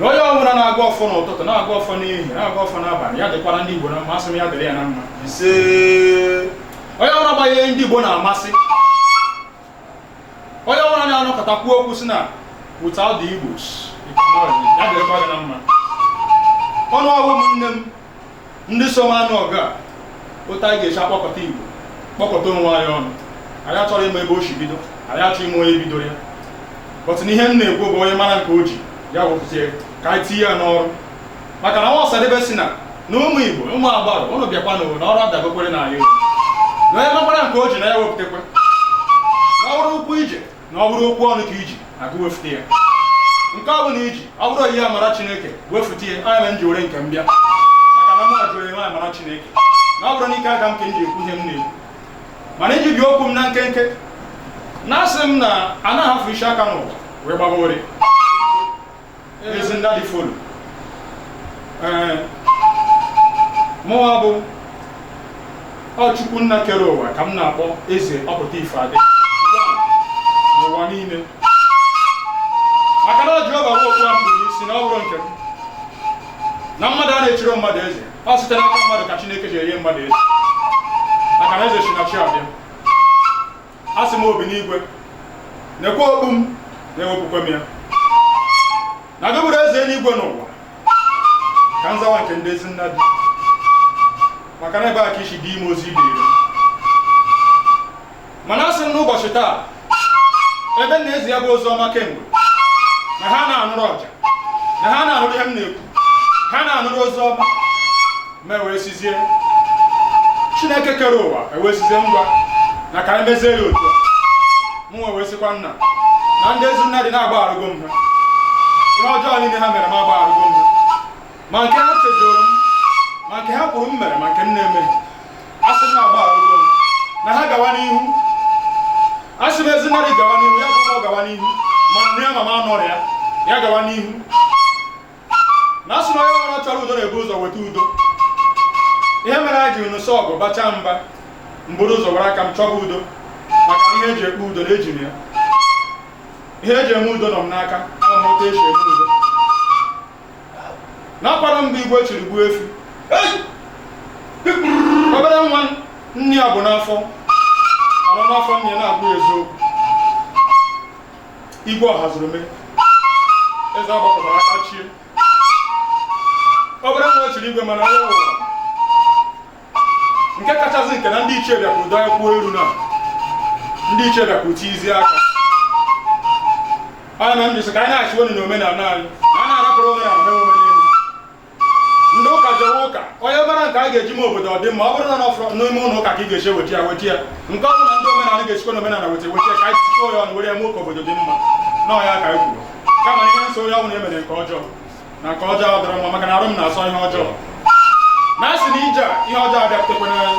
na onye ọbụla na-agọ ọfọ n'ụtụtụ na-agọ ọfọ n'ehihie na-agọ ọfọ n'abalị ya dịkwara ndị Igbo na mma asị m ya dịrị ya na mma ise onye ọbụla ihe ndị Igbo na-amasị onye ọbụla na-anọkọta kwuo okwu sị na without the Igbos ya dịrịkwa gị na mma ụnụ bụ ụmụnne m ndị so m anụ ọgụ a otu anyị ga-esi akpọkọta igbo kpọkọta onwe anyị ọnụ anyị achọrọ ịma ebe o si bido anyị achọrọ ịma onye bidoro ya but na ihe m na-ekwu bụ onye mara nke o ji ya wepụta ka anyị tinye ya n'ọrụ maka na nwa Ọsadebe sị na na ụmụ igbo ụmụ agbara ụnụ bịakwa na na ọrụ adagokwara na anyị na onye makwara nke o ji na ya wepụtakwa na ọ bụrụ ụkwụ ije na ọ bụrụ okwu ọnụ ka i ji agụ wefute ya nke ọ bụla i ji ọ bụrụ onyinye amara chineke wefute ya ọ ya m ji were nke m bịa maka na mụ jụrụ enwe amara chineke na ọ bụrọ n'ike aka m ka m ji ekwu ihe m na-ekwu mana iji bie okwu m na nkenke na asị m na anaghị ahafụ isi aka n'ụwa wee gbaba ụrịọ ezi Nnadi folo ee mụwa bụ ọ Chukwu nna kere ụwa ka m na-akpọ eze ọ pụta ife adị n'ụwa niile maka na ọ ji ọba okwu a mbụ isi na ọ bụrụ nke m na mmadụ a na-echiri mmadụ eze ọ site n'aka mmadụ ka chineke ji enye mmadụ eze maka na eze si na chi abịa asị m obi n'igwe nekwa okpu m na ewepụkwa m ya na gị bụrụ eze eluigwe na ụwa ka m zawa nke ndị ezi Nnadi maka na ebe a ka isi dị ime ozi ibe ire mana asị m n'ụbọchị taa ebe m na-ezi ya bụ ozi ọma kemgbe na ha na-anụrụ ọja na ha na-anụrụ ihe m na-ekwu ha na-anụrụ ozi ọma mụ ewee sịzie chineke kere ụwa ewee sịzie ngwa na ka anyị mezie ya otu a mụ wee sịkwa nna na ndị ezi Nnadi na agbagharụgo m ha ihe ọjọọ niile ha mere m agbagharụgo m ha ma nke ha chejọrọ m ma nke ha kwuru m mere ma nke m na-emeghị a sị m na agbagharụgo m na ha gawa n'ihu a sị m ezi Nnadi gawa n'ihu ya bụ ọ gawa n'ihu ma m nọ ya ma m anọrọ ya ya gawa n'ihu na asị na onye ọbụla chọrọ udo na-ebu ụzọ weta udo ihe mere anyị jiri nụsịa ọgụ bachaa mba m buru ụzọ were aka m chọba udo maka na ihe eji ekpe udo na eji m ya ihe eji eme udo nọ m n'aka ama m otu esi eme udo na-akwado mgbe igwe chiri gbuo efi obere nwa nne ya bu n'afọ anọ n'afọ nne ya na-abụ eziokwu igwe ọha zuru mee eze agbakọtara aka chie obere nwa chiri igwe mana onye ụwa nke kachasị nke na ndị ichie bịakwuru dọọ kwuo eru na ndị ichie bịakwuru tizi aka ọ na m jisi ka anyị na-achị unu na omenala anyị na a na-arapụrụ omenala mewe ndị ụka jewe ụka onye mara nke a ga-eji mee obodo ọ dị mma ọ bụrụ na n'ọfọ n'ime ụlọ ụka ka ị ga-esi weta ya weta ya nke ọ bụ na ndị omenala ga-esikwa na omenala weta weta ya ka anyị tikọọ ya ọnụ were ya mee ka obodo dị mma na ọ ya ka anyị kwuru kama na ihe nso onye ọbụla emere nke ọjọọ na nke ọjọọ adịrọ mma maka na arụ m na-asọ ihe ọjọọ na asị na ije a, ihe ọjọọ abịaputekwa n'anya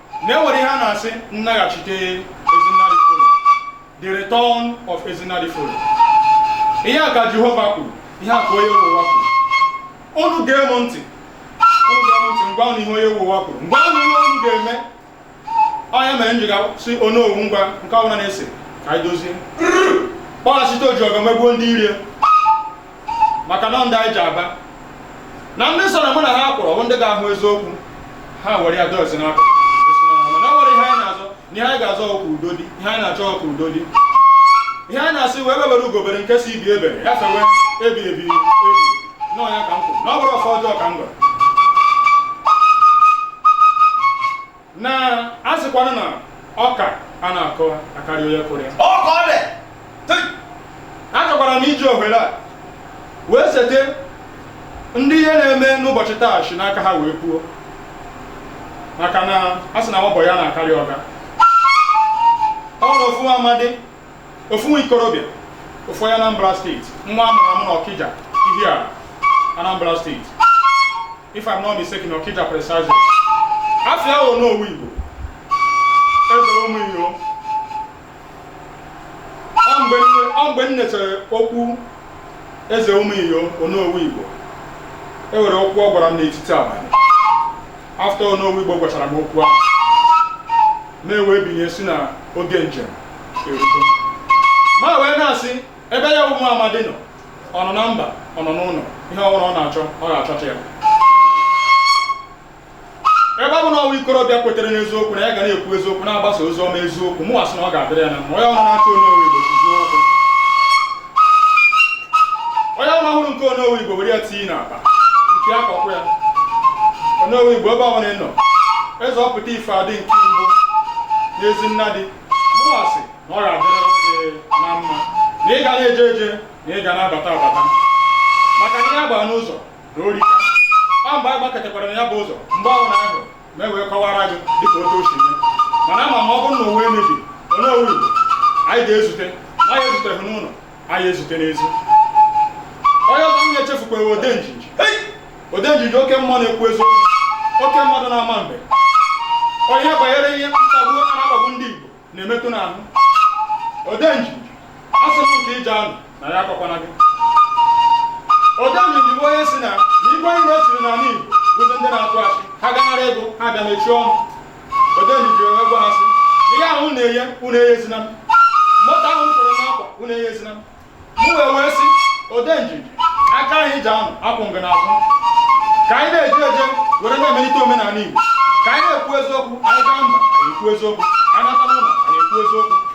na enwere ihe a na-asị nnaghachite ezinna diforo the return of ezinna diforo ihe a ka jehova kwuru ihe a ka onye ụwa kwuru unu gee m ntị unu gee m ntị m gwa unu ihe onye ụwa kwuru m gwa unu ihe unu ga-eme onye mere njiga si onowu ngwa nke ọbụla na-ese ka anyị dozie kpọghachite oji ọgọ megbuo ndị iro maka na ndị anyị ji aba na ndị so na mụ na ha kwụrụ bụ ndị ga-ahụ eziokwu ha were ya dozie n'aka mana ọ nwere ihe anyị na-azọ na ihe anyị ga-azọ ọ ka udo dị ihe anyị na-achọ ọ ka udo dị ihe anyị na-asị egbe bere ugo bere nke sị ibe ebere ya fewe ebi ebi ebi na ọ ya ka m kwuru na ọ bụrụ ọfọ ọjọọ ka m gwara na a sịkwanụ na ọka anarọ akarị onye kụrụ ya ọ ka ọ dị Tị! achọkwara m iji ohere a wee cheta ndị ihe na-eme n'ụbọchị taa si n'aka ha wee kwuo maka na a sị na nwa bọyị anaghị akarị ọga ọ na ofu amadi ofu nwa ikorobịa ofu onye Anambra steeti nwa a mụrụ amụ na Ọkịja Ihiala Anambra steeti if I'm not mistaken Ọkịja precisely afa ya onowu Igbo eze ụmụ iyo ọ mgbe m nechere okwu eze ụmụ iyo onowu Igbo e nwere okwu ọ gwara m n'etiti abalị afta onowu Igbo gwachara m okwu ahụ m wee binie sị na oge njem ma wee na-asị ebe ya bụ nwa amadi nọ ọ nọ na mba ọ nọ n'ụlọ ihe ọ bụla ọ na-achọ ọ ga-achọta ya ebe ọ bụ na ọ nwa ikorobịa kwetere n'eziokwu na ya ga na-ekwu eziokwu na-agbasa ozi ọma eziokwu mụ asị na ọ ga-adịrị ya na mma onye ọbụla na-achọ onowu igbo tuzuo okwu onye ọbụla hụrụ nke onowu igbo were ya tinye n'akpa nke ya kọkwụ ya onowu igbo ebe ọ bụla ị nọ eze ọpụta ife adị nke mbụ n'ezi nna dị mụwa sị na ọ ga-adịrịrị gị na mma na ị ga na-eje eje na ị ga na-abata abata maka na ya gbaa n'ụzọ na ori ọ mgbe a gbaketekwara na ya bụ ụzọ mgbe ahụ na ahụ ma e wee kọwara gị dịka otu o si mee mana ama m ma ọ bụrụ na ụwa emebi Onowu Igbo anyị ga-ezute ma anyị ezuteghị n'ụlọ anyị ezute n'ezi onye ọzọ m na-echefukwaghị Odenjinji Odenjinji oke mmụọ na-ekwu eziokwu oke mmadụ na-ama mbe onye banyere ihe mkpagbu a na-akpagbu ndị Igbo na-emetụ n'ahụ Odenjinji asị m nke ije anụ na ya akọkwana gị Odenjinji bụ onye sị na igwe anyị nwesịrị n'ala Igbo bụzi ndị na-atụ ashị ha gaa nara ego ha bịa mechie ọnụ Odenjinji wee gwa ha sị ihe ahụ unu na-eye unu eyezina m moto ahụ kwere na nkwa unu eyezina m mụ wee wee sị Odenjinji aka anyị ji anụ akwụ ngị n'azụ ka anyị na-eje eje were na-emelite omenala igbo ka anyị na-ekwu eziokwu anyị gaa mba anyị ekwu eziokwu anyị nata n'ụlọ anyị ekwu eziokwu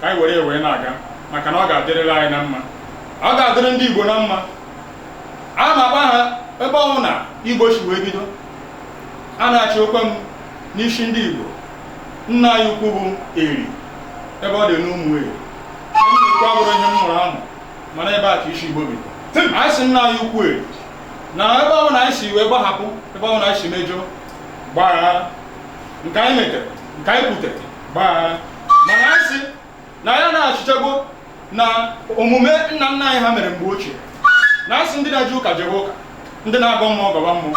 ka anyị were ya wee na-aga maka na ọ ga-adịrịrị anyị na mma ọ ga-adịrị ndị Igbo na mma a na-agba ha ebe ọ wụ na Igbo si wee bido a na-achị okwe m n'isi ndị Igbo nna anyị ukwu bụ eri ebe ọ dị n'Umueri nnukwu abụrọ ihe m mụrụ amụ mana ebe a ka isi Igbo bido anyị sị nna anyị ukwu eri na ebe ọwụna anyị si wee gbahapụ ebe ọwụna anyị si mejọọ gbaghara nke anyị metere nke anyị kwutere gbaa mana anyị sị na anyị na-achighago na omume nna nna anyị ha mere mgbe ochie na asị ndị na-eje ụka jebe ụka ndị na-agọ mmụọ gọba mmụọ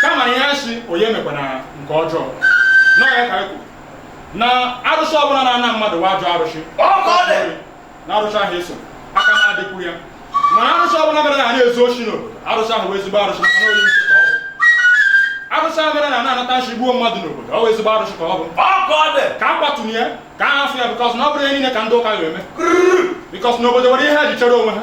kama na anyị sị onye emekwana nke ọjọọ na ọ ya ka anyị kwuru na arụsị ọbụla na-ana mmadụ wụ ajọ arụsị Ọ ka ọ dị. na arụsị ahụ eso aka na adịkwu ya mana arụsị ọbụla mere na a na-ezu oshi n'obodo arụsị ahụ wụ ezigbo arụsị maka na onye nche ka ọ bụ arụsị ahụ mere na a na-anata nshi gbuo mmadụ n'obodo ọ wụ ezigbo arụsị ka ọ bụ ọ ka ọ dị ka a kwatụnye ya ka a hafụ ya bikọs na ọ bụrọ ihe niile ka ndị ụka ga-eme bikọs n'obodo nwere ihe ha ji chere onwe ha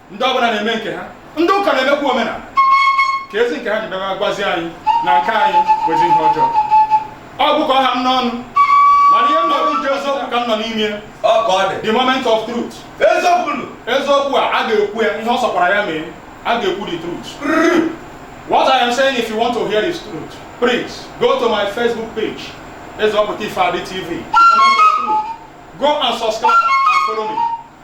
ndị ọbụla na-eme nke ha ndị ụka na-emekwa omenala keezi nke ha ji bịa gwazi anyị na nke anyị bụzi ihe ọjọọ ọ bụ ka ọ ha m n'ọnụ mana ihe mmadụ ji eziokwu ka m nọ n'ime ya ọ ka ọ dị the moment of truth eziokwu nụ eziokwu a a ga-ekwu ya ihe ọ sọkwara ya mee a ga-ekwu the truth what i am saying if you want to hear the truth please go to my facebook page ezeoputa ifeadi tv the moment of truth go and subscribe and follow me